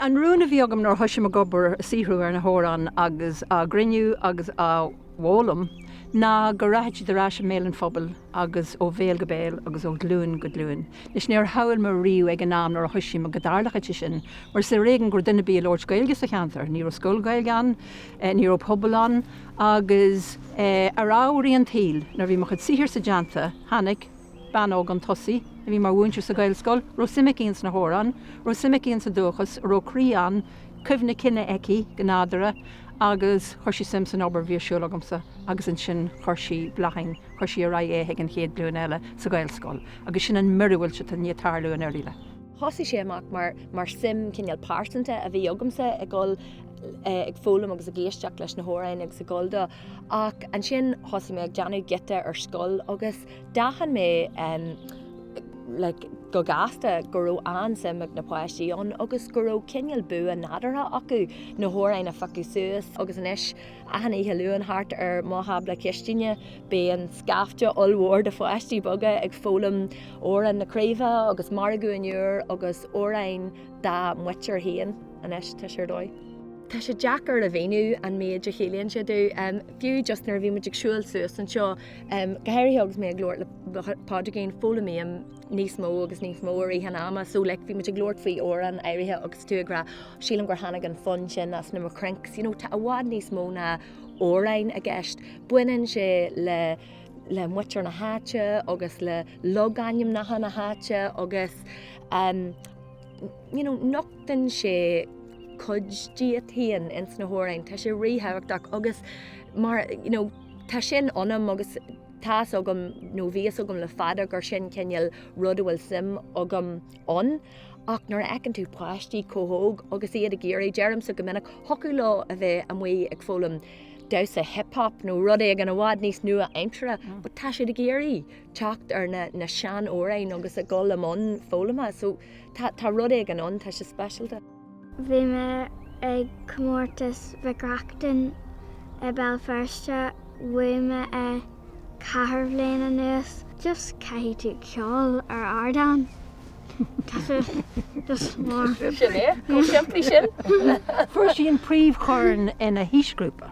An rún a bhí agam nuair a thoisigh mé ag obair, ag saothrú ar na hamhráin agus á gcruinniú agus á bhfoghlaim ná go rachadh siad ar ais i mbéal an phobail agus ó bhéal go béal agus ó ghlúin go glúin. Anois, níor shamhail mé riamh ag an am nuair a thoisigh mé go dtarlóchadh sé sin mar is ar éigean go raibh duine ar bith a labhairt Gaeilge sa cheantar, ní raibh scoil Ghaeilge ann, Ní raibh pobal ann agus ar amharaí an tsaoil, nuair a bhí mo chuid saothair sa dteannta, tháinig bean óg 'un tosaigh a bhí mar mhúinteoir sa Ghaelscoil, raibh suim aici ins na hamhráin, raibh suim aici ins an dúchas, raibh croí an cuimhne cine aici go nádúra agus chuir sí suim san obair a bhí ar siúl agamsa agus ansin chuir sí Bláithín, chuir sí ar aghaidh é chuig an chéad ghlúin eile sa Ghaelscoil agus sin an miorúilt atá i ndiaidh tarlú in Oirialla. Thosaigh sé amach mar suim cineál pearsanta a bhí agamsa ag dul, ag foghlaim agus ag éisteacht leis na hamhráin agus ag gabháil dó ach ansin thosaigh mé ag déanamh giota ar scoil agus d'aithin mé like go gasta go raibh an-suim ag na páistí ann agus go raibh cineál bua nádúrtha acu na hamhráin a phiocadh suas agus anois achan oíche Luain thart ar mo thábla cistíne bíonn scaifte ollmhór de pháistí beaga ag foghlaim Amhrán na Craoibhe agus Margadh an Iúir agus amhráin dá muintir féin. Anois tá sé ar dóigh. Tá sé deacair a mhíniú an méid a chiallaíonn sé domh. Fiú just nuair a bhí muid ag siúil suas anseo, go háirithe agus mé ag labhairt le Pádraigín, foghlaimím níos mó agus níos mó i rith an ama, so like bhí muid ag labhairt faoi amhrán áirithe agus tú ag rá sílim gur tháinig an fonn sin as na mo chrinks, you know, tá i bhfad níos mó ná amhráin i gceist. Baineann sé le le muintir na háite agus le logainmneacha na háite agus um, nochtann sé cuid díot féin ins na hamhráin. Tá sé ríthábhachtach agus mar you know tá sin ionam agus tá's agam nó bhí a fhios agam le fada gur sin cineál rud a bhfuil suim agam ann ach nuair a fheiceann tú páistí chomh hóg agus iad ag iarraidh, deirimse go minic, thiocfadh leo a bheith amuigh ag foghlaim damhsa hip-hop nó rud éigin i bhfad níos nua-aimseartha, but tá siad ag iarraidh. teacht ar na na seanamhráin agus ag dul i mbun foghlama so tá tá rud éigin ann tá sé speisialta. Bhí mé ag comórtas Mhic Reachtain i Béal Feirste bhuaigh mé é ceithre bliana anuas. Just caithfidh tú ceol ar ardán, tá sé just mór. Sin é go simplí sin. Fuair sí an príomhchorn ina haoisghrúpa.